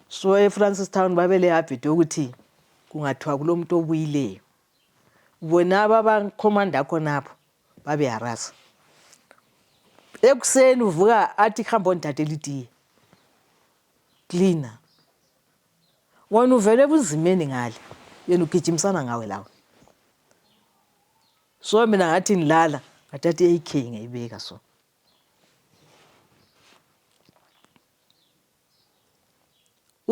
so efrancis town babelehabit yokuthi kungathiwa kulomuntu obuyileyo bona ababakhomanda khonapho babeharasa ekuseni uvuka athi hamba ondidadela itiye cleaner wena uvele ebunzimeni ngale yena ugijimisana ngawe lawe so mina ngathi ngilala ngathatha i-ak ngayibeka so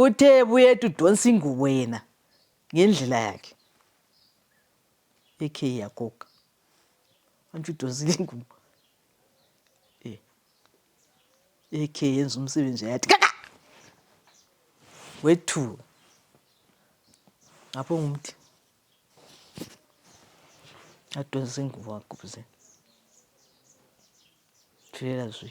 uthe buyethu udonsa ingubo yena ngendlela yakhe ekhe yagoga antsho udonsile ingubo eh. ekhe yenza umsebenzi yathi kaka wethuka ngapho ngumthi adonsa ingubo wagubuzela thulela zwi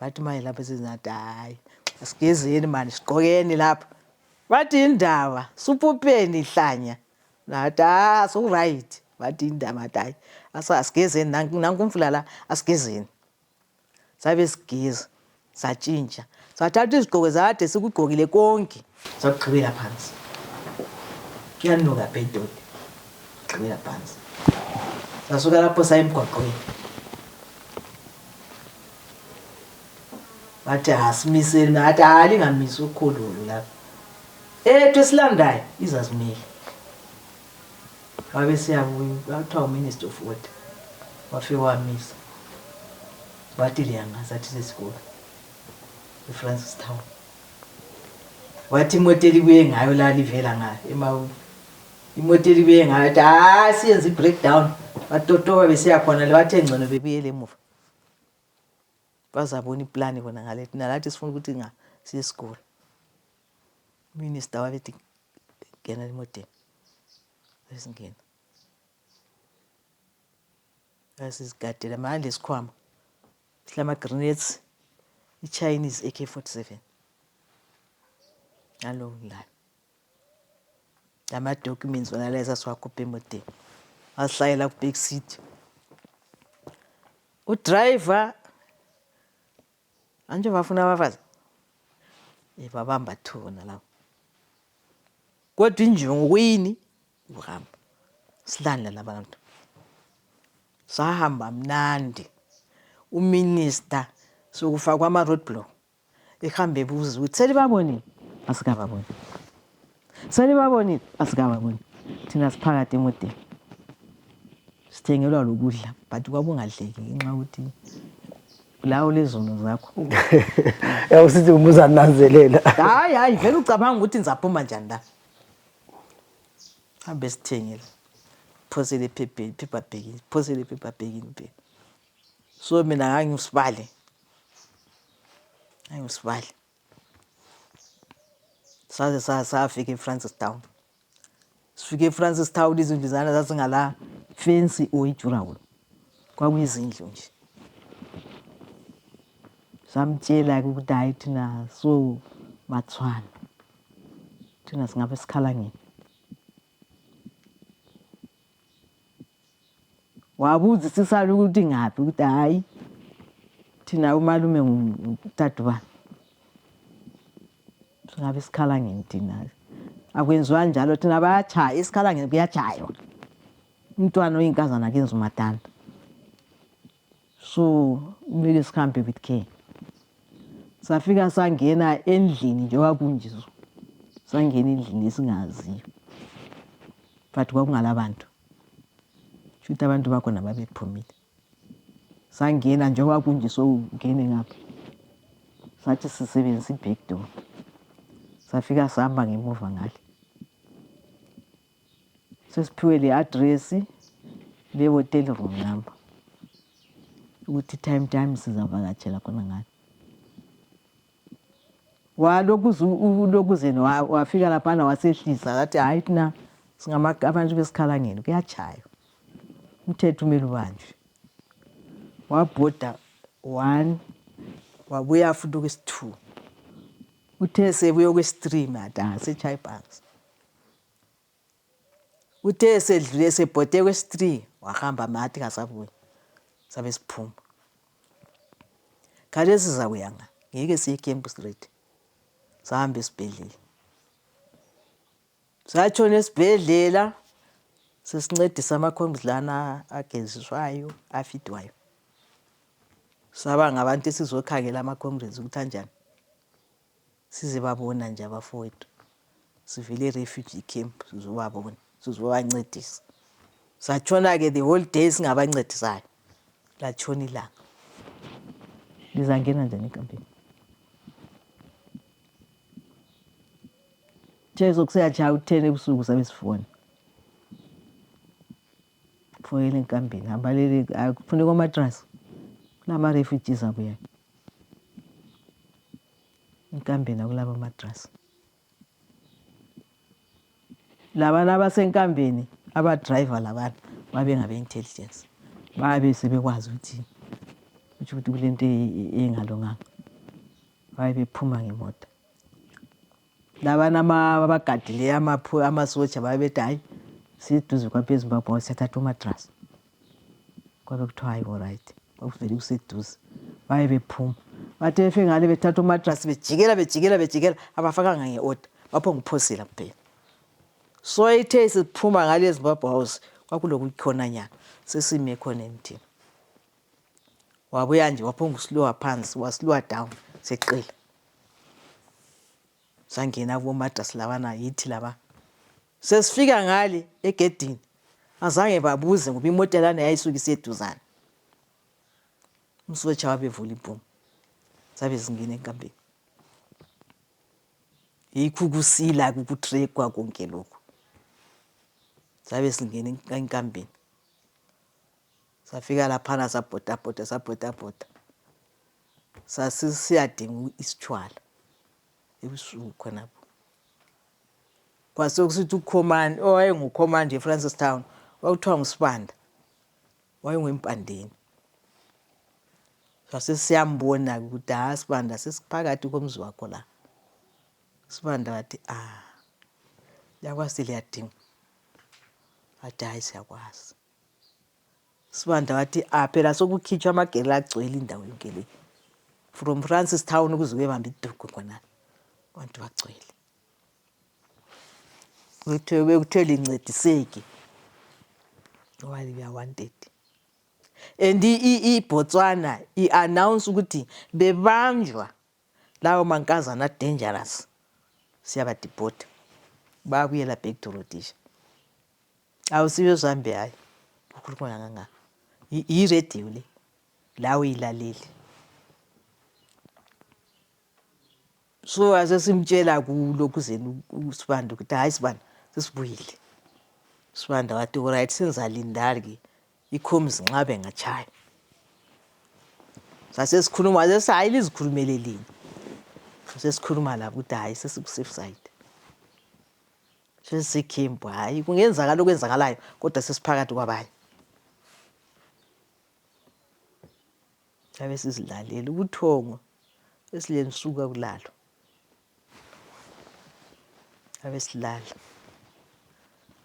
bathi maye lapha sezingathi hayi sigezeni mani sigqokeni lapha bathi indaba supupeni ihlanya nathi ah suright bathi indaba athi hayi asigezeni nankumfula la asigezeni sabe sigeza satshintsha sathatha izigqoko zakade sikugqokile konke sagqibela phansi kuyanuka bhedode gqibela phansi sasuka lapho saya emgwaqweni bathi asimiseli ngathi hayi lingamisi ukhululu lapho ethu esilandayo izazimile babesiyabuya kwakuthiwa uminister of water wafike wamisa wathi liyanga sathi sesikolo efrancis town wathi imoto elibuye ngayo la livela ngayo emawu imoto elibuye ngayo athi hayi siyenza i-breakdown batotoba besiyakhona le bathe ngcono bebuyele emuva bazabona iplani bona ngalethi nalathi sifuna ukuthi nga siyesikolo Minister wabeti General Moteni wesingena wasigadela maye lesikhwama silama grenades iChinese AK47 alo layo lama documents wonalayo sasiwakhupha emoteni wasihlayela ku back seat udriver Anje bafuna abafazi eh, babamba thuna lapho kodwa injongo kuyini ukuhamba silandla labantu sahamba mnandi uminista sokufakwa ama-road block ehambe ebuza ukuthi selibabonile asikababoni Selibabonile? Asikababoni. Thina siphakathi emoteni. Sithengelwa lokudla but kwakungadleki ngenxa yokuthi lawo lezono zakho. Ya usithi umuza nanzelela. Hayi hayi vele ucabanga ukuthi ngizaphuma njani la. Hambe sithengele. Phosele phephe phepha bhekini. Phosele phepha bhekini phela. So mina ngangimsibale. Ngangimsibale. saze safika eFrancistown sifike eFrancistown izindlu zana zazingala fensi oyijurawulo kwakuyizindlu nje samtshela-ke ukuthi hhayi thina so bathwana thina singabe sikhala ngini wabuzisisa ukuthi ngaphi ukuthi hhayi thina umalume ngudadubani singabe isikhalangeni thina akwenziwa njalo thina bayatshaya isikhalangeni kuyatshaywa umntwana oyinkazana kenza umatanda So kumele sihambe with care. Safika sangena endlini nje kwakunjizwa. Sangena endlini esingaziyo. But kwakungala bantu. Shuthi abantu bakhona babephumile. Sangena nje kwakunje sokungene ngapha. Sathi sisebenzisa i-back door. Safika sihamba ngemuva ngale. sesiphiwe le address le hotel room number ukuthi time time sizavakatshela khona ngani walokuzeni wafika laphana wasehlisa wathi hayi thina abantu besikhalangeni kuyatshaywa umthetho umele ubanjwe wabhoda one wabuya futhi okwesi-two uthe sebuye okwesi-three mada setshaye ibhasi Uthe esedlule esebhode kwesi-three wahamba mathi kasabuyi sabe siphuma khathesi sizakuya nga ngeke siye camp straight sahamba esibhedlela satshona esibhedlela sesincedisa amakhombizi lana ageziswayo afidwayo saba ngabantu esizokhangela ama-comrades ukuthi anjani Sizebabona nje abafowethu. Sivele e-refugee camp sizobabona, sizobancedisa. Satshona-ke the whole day singabancedisayo. Latshona ilanga. Lizangena njani ekampini? Jesu kuseyatshaya u-10 ebusuku sabe sifona. Foyela enkambeni, hambalele akufuneka omatrasi. Kulama-refugees abuyayo. Inkambeni akulaba madrasi. Labana abasenkambeni abadriver labana babengabe-intelligence babe sebekwazi ukuthi kutsho ukuthi kule nto engalunganga babe bephuma ngemota labana abagadileyo amasotsha babe bethi hhayi siduze kwabezimbabwe siyathatha umadrasi kwabe kuthiwa hayi oright kwakuvele kuseduze baye bephuma bathi befe ngale bethatha umatrasi bejikela bejikela bejikela abafakanga nge-order bapho ngiphosela kuphela so ithe siphuma ngale ezimbabwe house kwakulokukhonanyana sesime khona emthini wabuya nje waphonga usilowa phansi wasilowa down seqile sangena kubomadrasi labana yithi laba Sesifika ngale egedini azange babuze ngoba imota lana yayisuke iseduzane umsotsha wabevula ibhomu zabe zingena enkambeni yikho ukusila kukutrekwa konke lokhu zabe singena enkambeni safika laphana sabhodabhoda sabhodabhoda sasisiyadinga isitshwala ebusuku khonapho kwasekusithi ukhomani owayengukhomani nje efrancis town kwakuthiwa ngusibanda wayengwempandeni sasesiyambona-ke ukuthi ha sibanda sesiphakathi komzi wakho la sibanda wathi a ah, lakwazi liyadinga wathi hhayi siyakwazi Sibanda wathi a ah, phela sokukhitshwa amagele agcwele indawo yonke le from Francis Town ukuze kuyebamba idugu khona abantu bagcwele kuthiwe bekuthiwe lincediseke ngoba liya wanted and iBotswana i-announce ukuthi bebanjwa lawo mankazana dangerous siyabadipota babuyela back to Rhodesia Awusiyo zambi hayi. Ukhuluma kangangaka. Yi- Yiradio le. Lawe ilalele. So asesimtshela kulo kuzeni uSibanda ukuthi hayi Sibanda sesibuyile. Sibanda wathi alright senzalindari ke. Ikhomizi nxa bengatshaya. Sasesikhuluma sesi hayi lizikhulumele lini. Sasikhuluma labo ukuthi hayi sesiku safe side. Sesikhimbo hayi kungenzakala okwenzakalayo kodwa sesiphakathi kwabanye. Abe sizilalela ubuthongo esilensuka kulalo. Abe silala.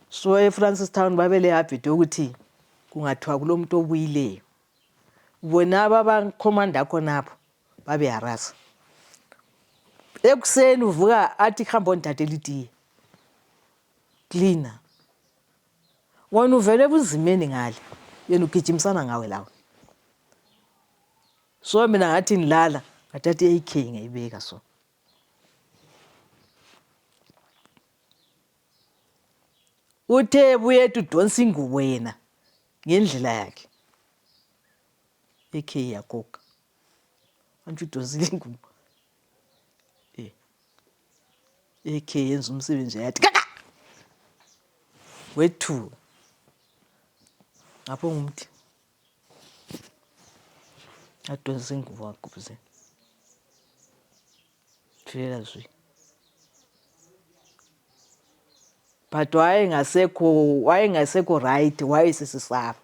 So eFrancis Town babele habit yokuthi kungathiwa kulomuntu obuyileyo. Bona ababakhomanda khonapho babeharaza ekuseni uvuka athi hamba ondidadela itiye cleaner wena uvele ebunzimeni ngale yena ugijimisana ngawe lawe so mina ngathi ngilala ngathatha i-ak ngayibeka so uthe buyethu udonsa ingubo yena ngendlela yakhe AK ya coke. Manje udozile ingubo. Eh. AK yenza umsebenzi yathi kaka. Wethu. Ngapho ngumthi. Adonsa ingubo wagubuzela. Vela zwi. But wayengasekho wayengasekho right wayesesisaba.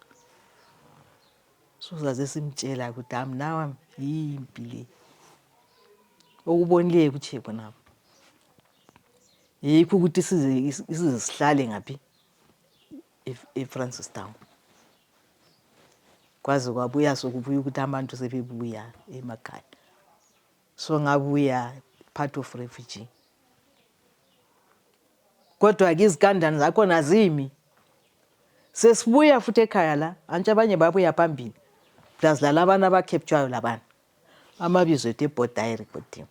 Sozaze simtshela ukuthi am now am yimpi le. Okubonileyo kutshe khonapho. Yikho ukuthi size size sihlale ngaphi eFrancistown. Kwaze kwabuya sokubuya ukuthi abantu sebebuya emakhaya. so ngabe we are part of refugee kodwa ke izikandani zakhona zimi sesibuya futhi ekhaya la antshi abanye babuya phambili plus lalabana abakheptshwayo labana amabizo ethu ebhoda ayerekhodiwe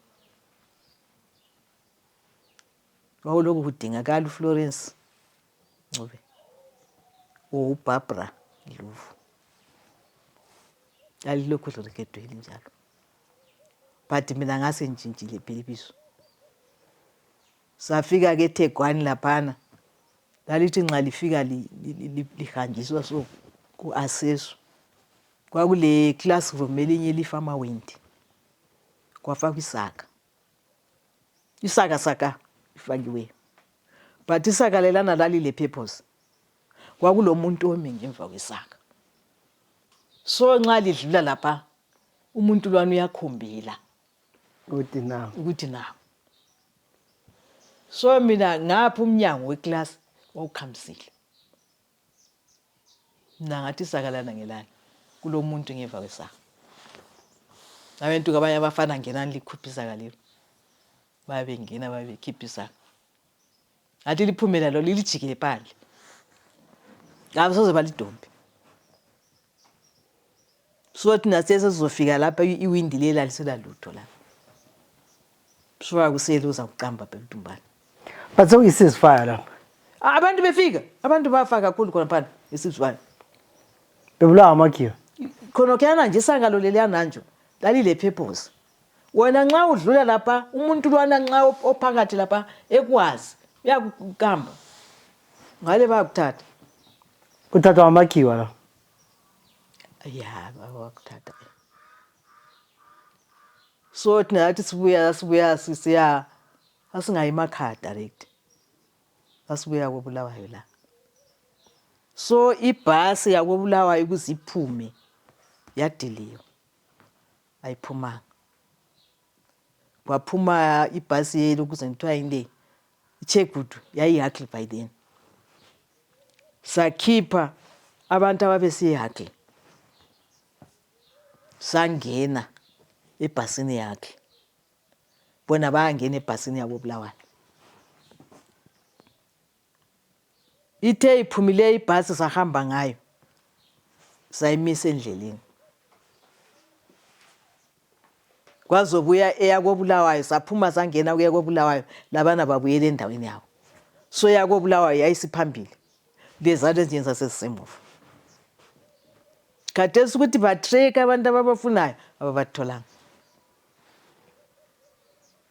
wawulokhu kudingakala uflorence ncube ubarbara luvu lalilokhu lirekhedwe linjalo but mina ngasengitshintshile bhilibiso safika ke Thegwani laphana lalithi nxa lifika lihanjiswa so ku-assesswa kwakule classroom elinye elifama wendi kwafakwa isaka isaka saka ifakiweyo but isaka lelana lalile purpose kwakulomuntu omi ngemva kwesaka so nxa lidlula lapha umuntu lwana uyakhombela ukuthi nangu ukuthi nangu so mina ngapha umnyango wekilasi wawukhamisile mna ngathi isakalana ngelana kulo muntu ngeva kwesaka abantu kabanye abafana ngenani likhupha isaka lelo baye bengena baye bekhipha isaka ngathi liphumela lo lilijikile phandle ngabe soze balidombe so thina sesizofika lapha iwindi leli alisela lutho lapha suka kusele uzakuqamba phela udumbane but sokuyisizifaya lapha abantu befika abantu bafa kakhulu khona phana isizifaya bebulawa amakhiwa khona khuyana nje isangalo leliyananjo lalilephephose wena nxa udlula lapha umuntu lwana nxa ophakathi lapha ekwazi uyakukamba ngale bayakuthatha kuthathwa amakhiwa la ya bakuthatha so thina yathi sibuya sibuya sisiya asingayi emakhaya direct asibuya kobulawayo la so ibhasi yakobulawayo ukuze iphume yadiliwa ayiphumanga kwaphuma ibhasi yelo kuze kuthiwa yile ichegudu yayihagle by then sakhipha abantu ababesiyihagle sangena ebhasini yakhe bona bayangena ebhasini yabo bulawayo Ithe iphumile ibhasi sahamba ngayo sayimisa endleleni. Kwazobuya eyakobulawayo saphuma sangena kuya kobulawayo labana babuyela endaweni yabo. So yakobulawayo yayisiphambili leza lezinye zasezisemuva. Khathesi ukuthi batrek abantu ababafunayo ababatholanga.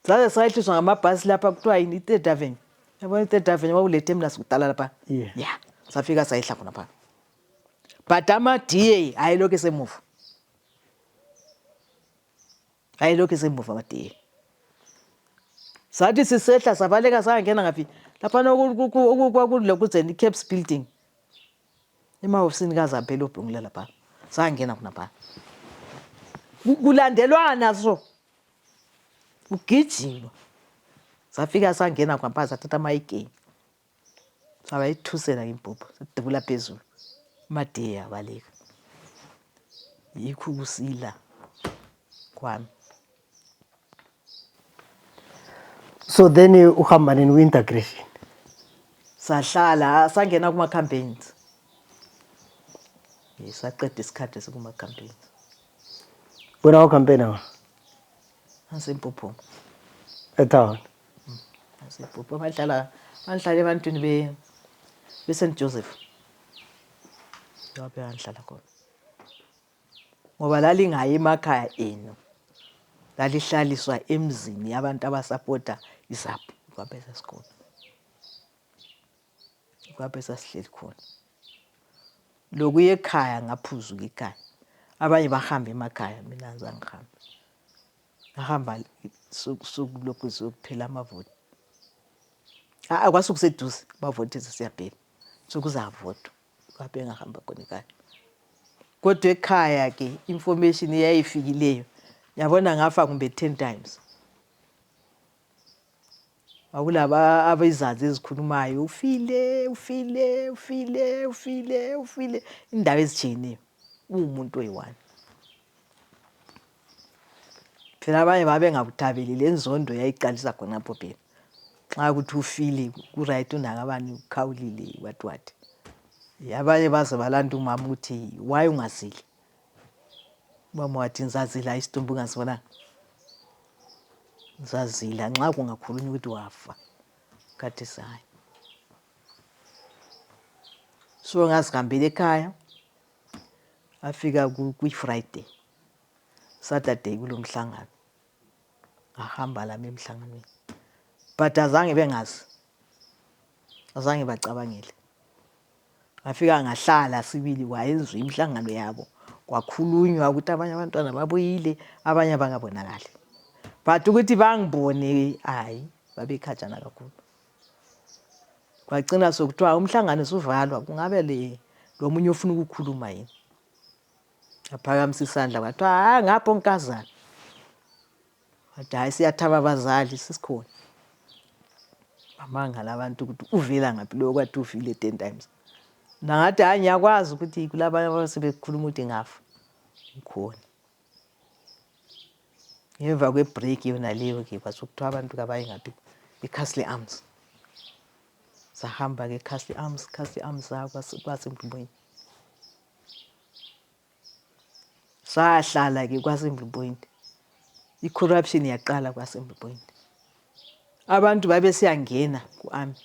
Saze sayehliswa ngamabhasi lapha kuthiwa yini i-third avenue yabona i-third avenue kwakulethe mina sikudala lapha Yeah. ya safika sayehla khona phana but ama-da ayelokhu esemuva ayelokhu esemuva ama-da sathi sisehla sabaleka sangena ngaphi laphana kwakulokuzeni i-caps building emahofisini kazamphela obhungula lapha sangena khona phana Ku- kulandelwana so kugijima safika sangena kwampa sathatha amayigenyi sabayithusela ngimbhubha sadubula phezulu umadiye yabaleka yikho ukusila kwami so then uhamba nini kwi-integration sahlala sangena kuma-campaigns saqeda isikhathi sikuma-campaigns Wena wakho kampeni awa? Asempopho. Etown. Asempopho bahlala bahlala ebantwini be be St Joseph. Lapho bahlala khona. Ngoba lalingayi emakhaya enu. Lalihlaliswa emzini yabantu abasapota izapu kwabe sesikolo. lapho esasihleli khona lokuya ekhaya ngaphuzuka ikhaya abanye bahamba emakhaya mina ngizangihambe ngahamba sokulokhu sokuphela amavoti kwasukuseduze bavoti sesiyaphela sokuzavotwa lapho engahamba khona ekhaya kodwa ekhaya ke information eyayifikileyo yabona ngafa kumbe ten times Akulaba abezazi ezikhulumayo ufile ufile ufile ufile ufile indawo ezitshiyeneyo uwumuntu oyiwani phela abanye babengakuthabeli lenzondo yayiqalisa khonapho phela nxa ukuthi ufile kuright unakabani ukhawulile what what abanye baze balanda umama ukuthi why ungazili Umama wathi ngizazila isidumbu ungasibonanga ngizazila nxa kungakhulunywa ukuthi wafa khathi sayo so ngazihambela ekhaya afika kwi-friday saturday kulomhlangano ngahamba lami emhlanganweni but azange bengazi azange bacabangele ngafika ngahlala sibili kwayenzwa imihlangano yabo kwakhulunywa ukuthi abanye abantwana babuyile abanye abangabonakali but ukuthi bangibone hayi babekhatshana kakhulu kwacina sokuthiwa umhlangano usuvalwa kungabe le lomunye ofuna ukukhuluma yini Aphakamisa isandla wathi, hayi ngapho nkazana. Wathi, hayi siyathaba abazali sisikhona. Bamangala abantu ukuthi uvela ngaphi loyo kwathi uvile ten times. Nangathi, hayi ngiyakwazi ukuthi kulabanye abasebekhuluma ukuthi ngafa. Ngikhona. Ngemva kwe-break yona leyo-ke kwasokuthiwa abantu kabaye ngaphi eCastle Arms. Sahamba-ke eCastle Arms, Castle Arms kwasembumweni. sahlala ke kwaSimbi Point i-corruption yaqala kwaSimbi Point abantu babesiyangena ku-ami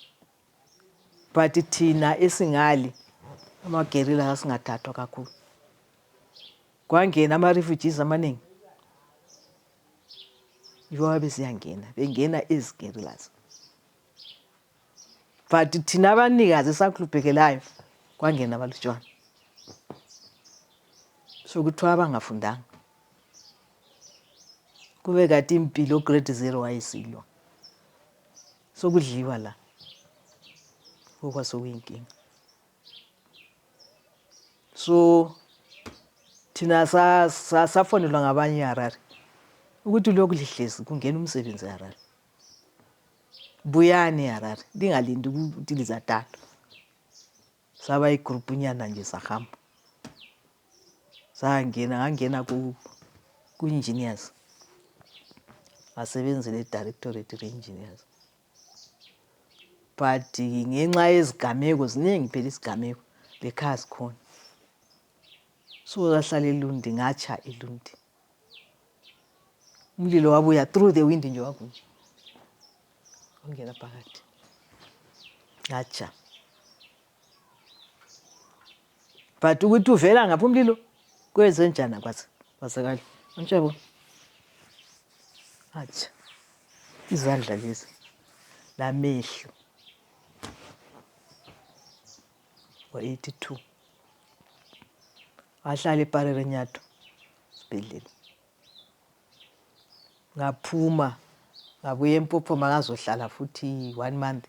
but thina esingali amagerila asingathathwa kakhulu kwangena ama-refugees amaningi yibo ababesiyangena bengena izigerilasi but thina abanikazi esakhluphekelayo kwangena abalutshwana sokuthiwa abangafundanga kube kati impilo grade zero wayesilwa sokudliwa la kokwa sokuyinkinga so thina safonelwa ngabanye harare ukuthi lokhu lihlezi kungena umsebenzi harare buyani eharare ndingalindi ukuthi lizathathwa saba igroupu nyana nje sahamba sangena ngangena ku-engineers ngasebenzela edirectorate re-engineers but ngenxa yezigameko ziningi phela isigameko lekhaya sikhona so lahlala elundi ngatsha elundi mlilo wabuya through the wind nje wakunje ongena phakathi ngatsha but ukuthi uvela ngaphi umlilo kwenze njani kwaze kwazakala antshabo atsha izandla lezi lamehlo wa-82 ngahlala eparerenyato sibhedlela ngaphuma ngabuya empophoma ngazohlala futhi one month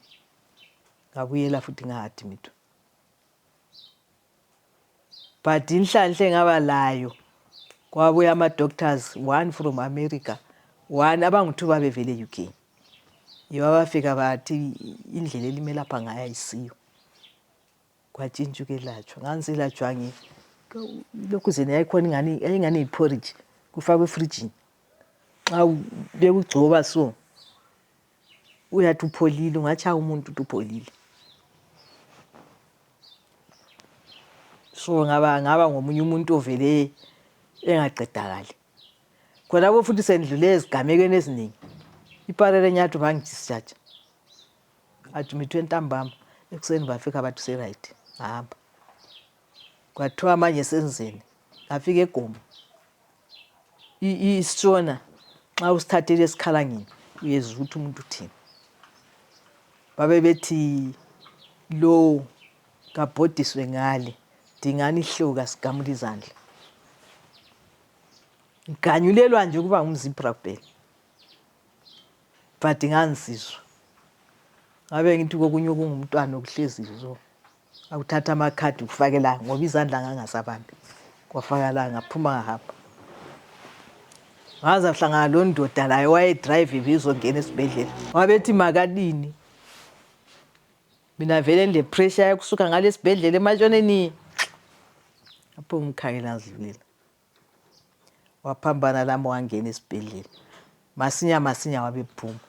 ngabuyela futhi ngaadmitwa but inhlanhle ngaba layo kwabuya ama-doctors one from america one abangu-two babevele e-uk yibo abafika bathi indlela elimelapha ngayo ayisiyo kwatshintsha ukwelatshwa ngangiselatshwa lokhu zena yayikhona ingani yayingani yiphoriji kufakwe efrijini nxa bekugcoba so uyathi upholile ungatshaya umuntu uthi upholile so ngaba ngaba ngomunye umuntu ovele engaqedakali khonapho futhi sendlule ezigamekweni eziningi iparele nyathi bangidischarge admithwe ntambama ekuseni bafika bathi seright hamba kwathiwa manje senzeni ngafika egoma isona nxa usithathele esikhalangeni uyezwa ukuthi umuntu uthini babebethi lowo kabhodiswe ngale dingani ihlewu kasigamula izandla ngiganyulelwa nje ukuba ngumzibra kuphela but ngangizizwa ngabe ngithi kokunye okungumntwana okuhlezi zo akuthatha amakhadi kufakela ngoba izandla ngangasabambi kwafakala ngaphuma ngahamba ngaze ahlangana lo ndoda laye wayedrayive bezongena esibhedlela wabethi makalini mina vele ndilepressure yakusuka ngalesibhedlela ematshoneni apho umkhangela ngidlulela waphambana lami wangena esibhedlela masinya masinya wabephuma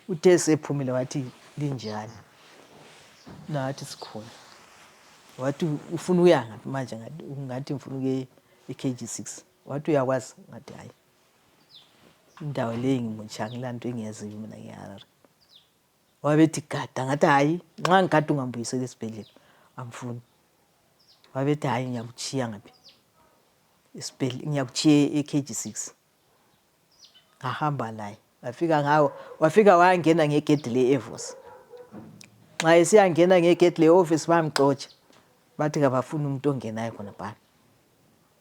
uthe esephumile wathi linjani nathi sikhona wathi ufuna ukuya ngaphi manje ngathi ngifuna ukuye e-kg six wathi uyakwazi ngathi hhayi indawo leyi ngimutsha ngilanto engiyaziyo mina ngiharare wabethi gada ngathi hayi nxa ngigada ungambuyisela esibhedlela angifuni wabethi hayi ngiyakutshiya ngaphi ngiyakutshiya e-kg six ngahamba laye wafika ngawo wafika wayangena ngegedi le-evos nxa esiyangena ngegedi le-office bamxotsha bathi kabafuni umuntu ongenayo khonapana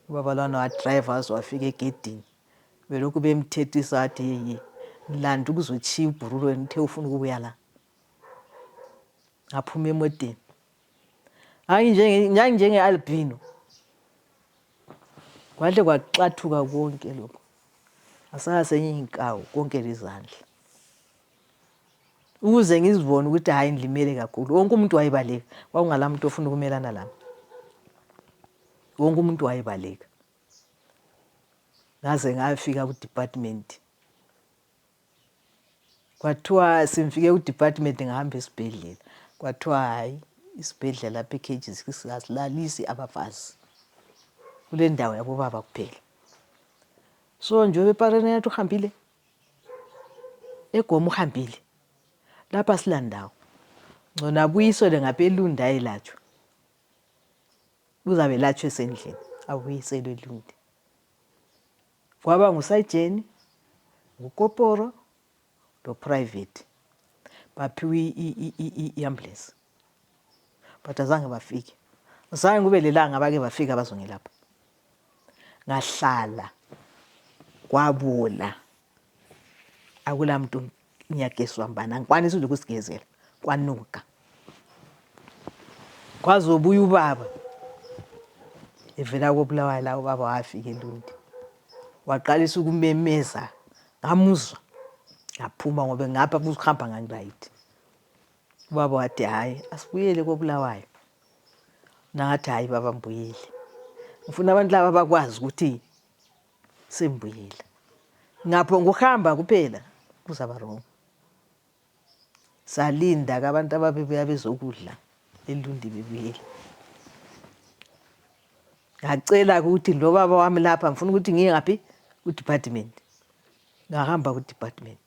ubaba lwana wadrive waze wafika egedini belokhu bemthethisa athi yeyi ngilanda ukuzotshiya ibhurulo wena uthe ufuna ukubuya la ngaphuma emoteni nganginjenge-albino kwahle kwaxathuka konke lokho asala senye inkawu konke lezandla ukuze ngizibone ukuthi hhayi ngilimele kakhulu wonke umuntu wayebaleka kwakungala muntu ofuna ukumelana lami wonke umuntu wayebaleka ngaze ngayofika kudepartment kwathiwa sengifike kudepartment ngihamba esibhedlela kwathiwa hayi isibhedlela lapha ecages asilalisi abafazi kule ndawo yabobaba kuphela so njengoba epareni yathi uhambile egoma uhambile lapha silandawo ngcona abuyisele ngapha elunda elatshwa Uzabe latshwe esendlini abuyiselwe lule. Kwaba ngusayijeni, ngukoporo loprivate baphiwe i-ambulance but azange bafike. Zange kube lelanga abake bafika bazongilapha. Ngahlala kwabola akula muntu ngiyagezwa mbani angikwanisi nje ukusigezela kwanuka kwaze obuye ubaba evela kobulawayo la ubaba wafika elundi waqalisa ukumemeza ngamuzwa ngaphuma ngoba ngapha kuhamba ngangirayithi ubaba wathi hhayi asibuyele kobulawayo nangathi hhayi baba mbuyile ngifuna abantu laba bakwazi ukuthi sembuyela ngapho ngokuhamba kuphela kuzaba wrong salinda ke abantu ababebuya bezokudla elundi bebuyela ngacela ukuthi lo baba wami lapha ngifuna ukuthi ngiye ngaphi kudepartment ngahamba kudepartment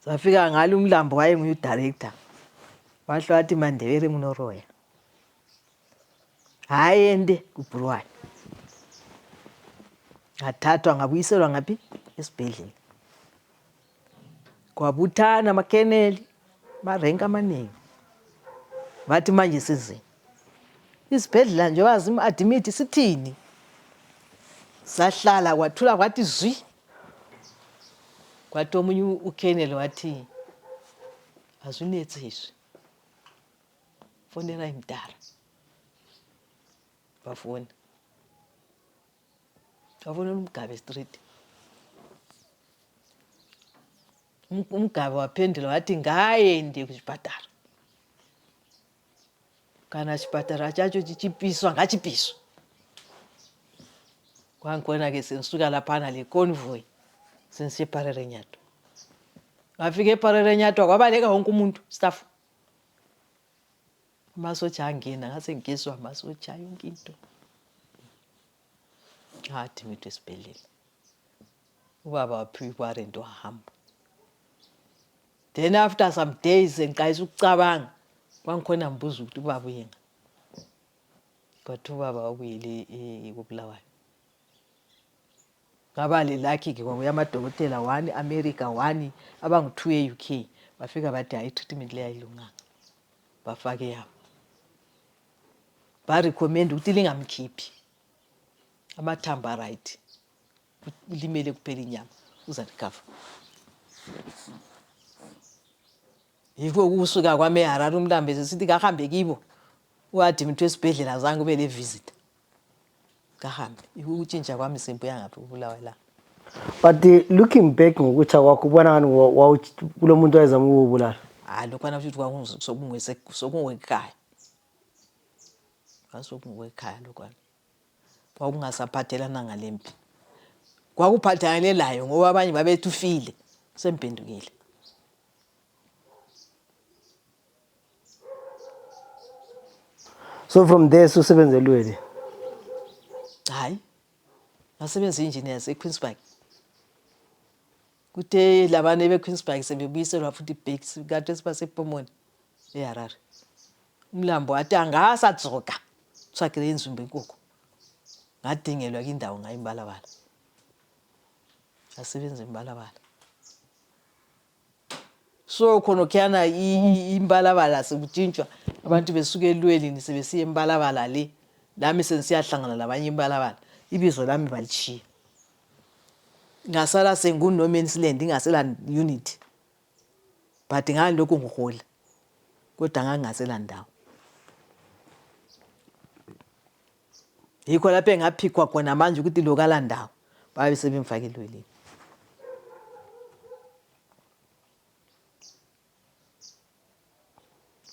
safika ngalo umlambo wayenguye udirector wahle wathi mandebele nginoroya haende kubhuruwayo ngathathwa ngabuyiselwa ngaphi esibhedlela kwabuthana amakeneli marenki amaningi bathi manje sizini isibhedlela nje wazima adimithi sithini sahlala kwathula kwathi zwi kwathi omunye ukeneli wathi asunetsizwi fonerai mdara bafoni bafonela umgabe street umgabe waphendula wathi ngaende kuchipatara kana chipatara chacho chichipiswa ngachipiswa kwangikona ke sengisuka laphana le convoy sengisiye eparere nyatwa ngafika eparere nyatwa kwabaleka wonke umuntu staff amasotsha angena ngase ngigezwa amasotsha yonke into ngathi ngitho esibhedlela ubaba waphiwa iwarrant wahamba then after some days ngiqalisa ukucabanga kwangikhona ngibuza ukuthi ubaba uyenga but ubaba wabuyele eh, kobulawayo ngaba le lucky ke kwakuya amadokotela one america one abangu-two e-uk bafika bathi hayi i-treatment leyo ayilunganga bafake yabo barecommenda ukuthi lingamkhiphi amathambo aright limele kuphela inyama uza recover yikho ukusuka kwami eharare umlambezi esithi kahambe kibo uadimithwa esibhedlela zange ube levisita kahambe yikho ukutshintsha kwami simbuya ngaphi kubulawa la but uh, looking back ngokutsha kwakho ubona ngani kulo muntu wayezama ukubulala hayi lokhwana futhi kwakungisokungiwekayo kwasokungiwekhaya lokhwana kwakungasaphathelananga lempi kwakuphathelane layo ngoba abanye babethi ufile semphendukile so from there susebenzelweni hayi ngasebenza i-engineers equeensburg kuthe labane bequeensburg sebebuyiselwa futhi ibhekis kade sibasepomoni eharare umlambo wathi angasadzoka usagire inzumba enkukhu ngadingelwa kindawo ngayo imbalabala asebenza imbalabala so khonokhuyana imbalabala sekutshintshwa abantu besuke elwelini sebesiya embalabala le lami sengisiyahlangana labanye imbalabala ibizo lami balishiya Ngasala senguno man's land ngingasela unit but ngangilokhu ngihola kodwa ngangingasela ndawo yikho lapho engaphikwa khona manje ukuthi lokala ndawo babe sebemfake elweleni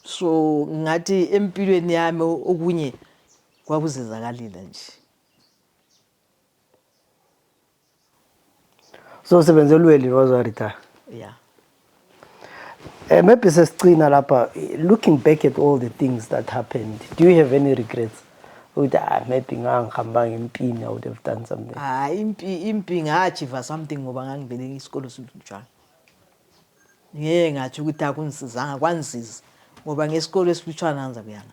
so ngathi empilweni yami okunye kwakuzenzakalela nje so sebenze elweli was a retire yeah uh, maybe sesigcina lapha looking back at all the things that happened do you have any regrets ukuthi ah maybe ngangihambanga empini i would have done something hayi ah, impi impi ngachiva something ngoba ngangivele isikolo sinjalo ngeke ngathi ukuthi akunisizanga kwanziza ngoba ngesikolo esilutshwana anza kuyana